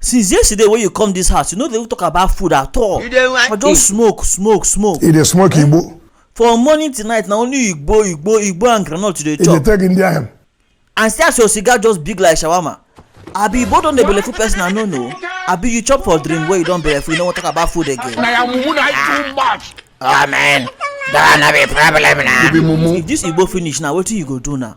since yesterday wey you come this house you no dey even talk about food at all you dey like for just smoke smoke smoke e dey smoke igbo from morning till night na only igbo igbo igbo and groundnut you dey e dey chop take india hemp and see as your cigar just big like shawarma abi igbo don dey belleful person i no know abi you chop for dream wey you don belleful you no wan talk about food again na ya mumu na too much. Oh man, that no be problem now. you be mumu if this igbo finish now wetin you go do now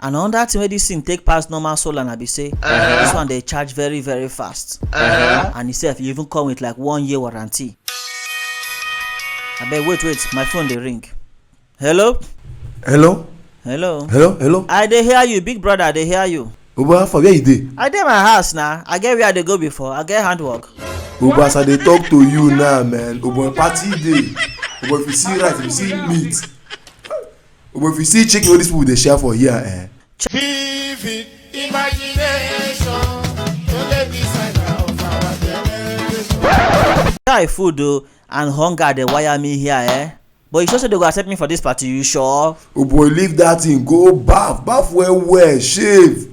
and another thing wey this thing take pass normal solar na be say this one dey charge very very fast and itself e even come with like one year warranty abeg wait wait my phone dey ring hello hello hello hello hello i dey hear you big brother i dey hear you obo how far where you dey i dey my house na i get where i dey go before i get handwork obo as i dey talk to you now man obo party dey obo if you see rice if you see meat Omo if you see chicken wey dis people dey share for here eh. Vivid imagination to the designer of our generation. Guy food o and hunger dey wire me here eh. But you sure say they go accept me for this party? You sure? Oh boy leave that thing go baff baff well well shave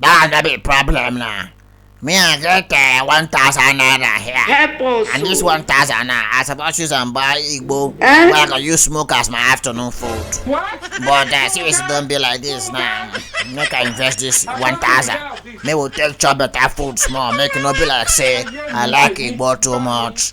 That no be problem now. Me I get uh, 1,000 naira here. Help us. And this 1,000 now, I suppose use and buy Igbo. Eh? Where I can use smoke as my afternoon food. What? But uh, since it don't be like this now, make I invest this 1,000. May we take chop better food small. Make it not be like say, I like Igbo too much.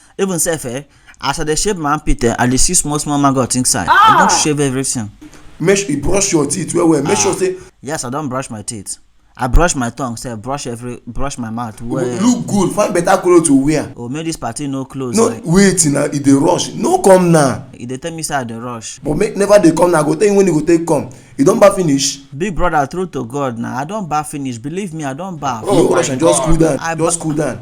even sef eh as i dey shave my armpit eh i dey see small small maggot inside i don shave everything make sure you brush your teeth well well make sure say yes i don brush my teeth i brush my tongue sef brush every brush my mouth you go well look good find better colour to wear oh make this party no close no like wait na e dey rush no come now e dey tell me say i dey rush but make never dey come now i go tell you when you go take come you don baff finish big brother true to god na i don baff finish believe me i don baff no rush and just cool down I- just cool down